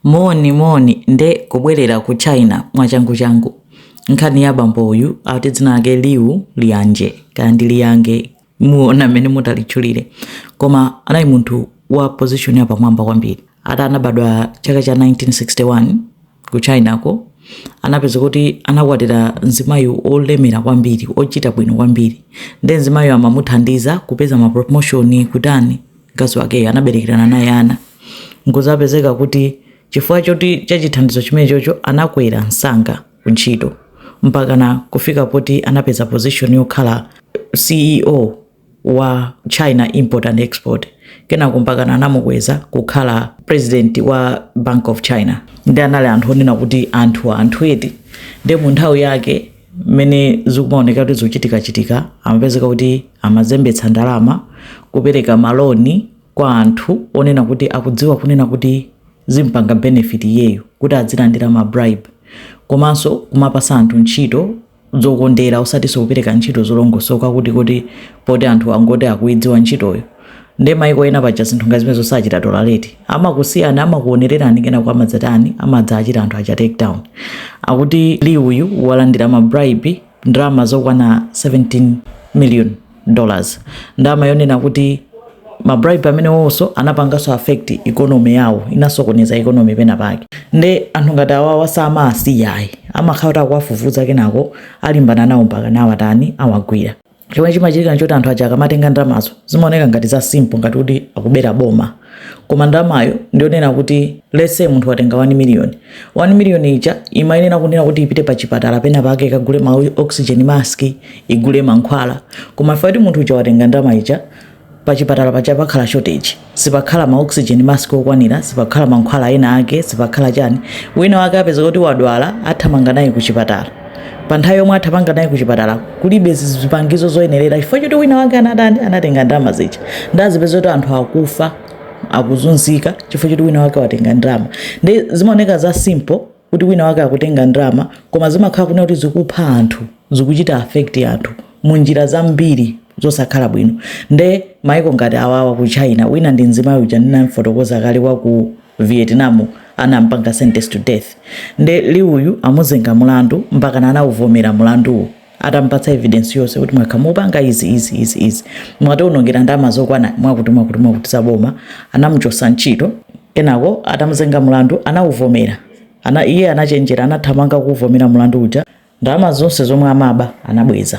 Moni moni nde kubwelera ku China mwachangu changu nkhani ya bambo uyu ati dzina lake Liu Lianje kaya ndi Liyange muona mmene mutalitchulire koma anali munthu wa position ya pamwamba kwambiri ati anabadwa chaka cha 1961 ku China ko anapeza kuti anakwatira mzimayi olemera kwambiri ochita bwino kwambiri nde mzimayiyo amamuthandiza kupeza ma promotion kutani mkazi wakeyo anaberekerana naye ana nkuzapezeka kuti chifukwa cha chithandizo chimenechocho anakwera msanga ku ntchito mpakana kufika poti anapeza position yokhala ceo wa china import and export kenako mpakana anamukweza kukhala president wa bank of china ndi anali anthu onena kuti anthu anthu eti nde mu nthawi yake mmene zikumaoneka kuti zochitikachitika amapezeka kuti amazembetsa ndalama kupereka maloni kwa anthu onena kuti akudziwa kunena kuti zimpanga benefit iyeyo kuti adzilandira ma bribe komanso kumapasa anthu ntchito zokondera osatiso kupereka ntchito zolongosoka kuti kuti poti anthu angoti akuidziwa ntchitoyo nde maiko ena paja zinthu ngati zimenezo sachita tolerate amakusiyani amakuonererani kenako amadzatani amadzaachita anthu acha take down akuti liu uyu walandira ma bribe ndalama zokwana 17 million dollars ndalama yonena kuti ma bribe amenewonso anapanganso affect economy yawo inasokoneza economy pena pake nde anthu ngati awawa samaasiyayi amakhala kuti akuwafufuza kenako alimbana nawo mpaka nawatani awagwira chomwe chimachitika nchoti anthu aja akamatenga ndalamazo zimaoneka ngati za simple ngati kuti akubera boma koma ndalamayo ndi yonena kuti let's say munthu watenga 1 million 1 million ija imayenera kunena kuti ipite pa chipatala pena pake ikagule ma oxygen mask igule mankhwala koma ifeyo ati munthu uja watenga ndalama ija pachipatala paja pakhala shortage sipakhala ma oxygen mask okwanira sipakhala mankhwala ena ake sipakhala chani wina wake apeza kuti wadwala athamanga naye kuchipatala pa nthawi yomwe athamanga naye kuchipatala kulibe zipangizo zoyenerera chifukwa choti wina wake anatani anatenga ndalama zija nde azipeza kuti anthu akufa akuzunzika chifukwa choti wina wake watenga ndalama nde zimaoneka za simple kuti wina wake akutenga ndalama koma zimakhala kunena kuti zikupha anthu zikuchita affect anthu mu njira zambiri zosakhala bwino nde maiko ngati awawa ku china wina ndi mzimayi uja ndinamfotokoza kale wa ku vietnam anampanga sentence to death nde liu uyu amuzenga mulandu mpakana anawuvomera mulanduwo atamupatsa evidence yonse kuti mwakhala mukupanga izi izi izi izi mwatiwonongera ndalama zokwana mwakuti mwakuti mwakuti za boma anamuchotsa ntchito kenako atamuzenga mulandu anawuvomera iye anachenjera anathamanga kuvomera mulandu uja ndalama zonse zomwe amaba anabweza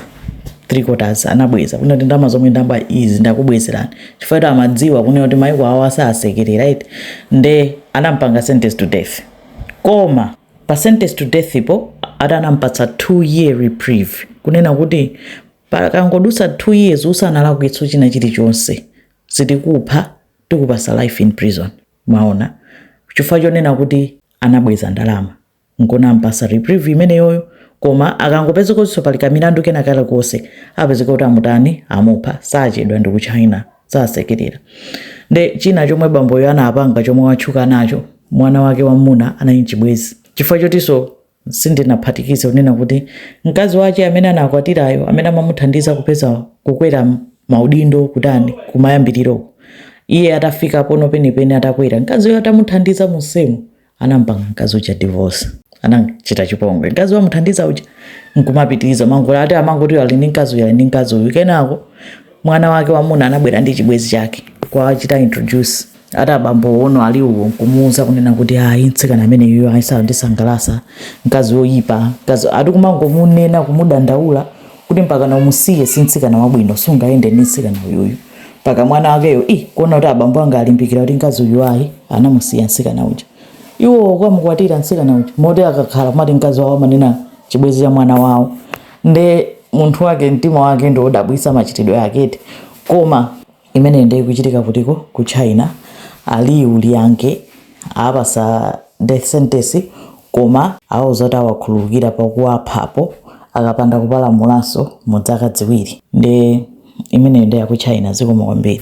three quarters anabweza kunena kuti ndalama zomwe ndamba izi ndakubwezerani chifukwa choti amadziwa kunena kuti maiko awo sasekerera eti nde anampanga sentence to death koma pa sentence to death po ati anampatsa 2 year reprieve kunena kuti pakangodutsa 2 years usanalakwitsenso china chilichonse sitikupha tikupasa life in prison mwaona chifukwa chonena kuti anabweza ndalama nkunampasa reprieve imeneyoyo koma akangopeza kuti pali kamilandu kena kalikonse apezeka kuti amutani amupha sachedwa ndi ku china sasekerera nde china chomwe bamboyo anapanga chomwe watchuka nacho mwana wake wamuna anali nchibwezi chifukwa chotinso sindinaphatikize kunena kuti mkazi wache amene anakwatirayo amene amamuthandiza kupeza kukwera maudindo kutani kumayambiriroko iye atafika pono penipeni atakwera mkaziyo atamuthandiza mumsewu anampanga mkazi uja divorce anamchita chipongwe mkazi wamuthandiza uja nkumapitiriza mangula ati amangoti ali ndi mkazi uyu ali ndi mkazi uyu kenako mwana wake wamuna anabwera ndi chibwezi chake kuwachita introduce ati abambo uno ali uwo nkumuuza kunena kuti ayi mtsikana ameneyoyo ayi sandisangalasa mkazi woyipa mkazi ati kumangomunena kumudandaula kuti mpakana umusiye si mtsikana wabwino sungayende ndi mtsikana uyuyu mpaka mwana wakeyo i kuona kuti abambo anga alimbikira kuti mkazi uyu ayi anamusiya mtsikana uja iwo kukamukwatira mtsikana uja moti akakhala kumati mkazi wawo amanena chibwezi cha mwana wawo nde munthu wake mtima wake ndi wodabwisa machitidwe ake eti koma Imeneyi nde ikuchitika kutiko? Ku China. A Liu Liange awapasa death sentence koma awauza kuti awakhululukira pakuwaphapo akapanda kupalamulanso mu dzaka dziwiri. Nde imeneyo nde ya ku China. Zikomo kwambiri.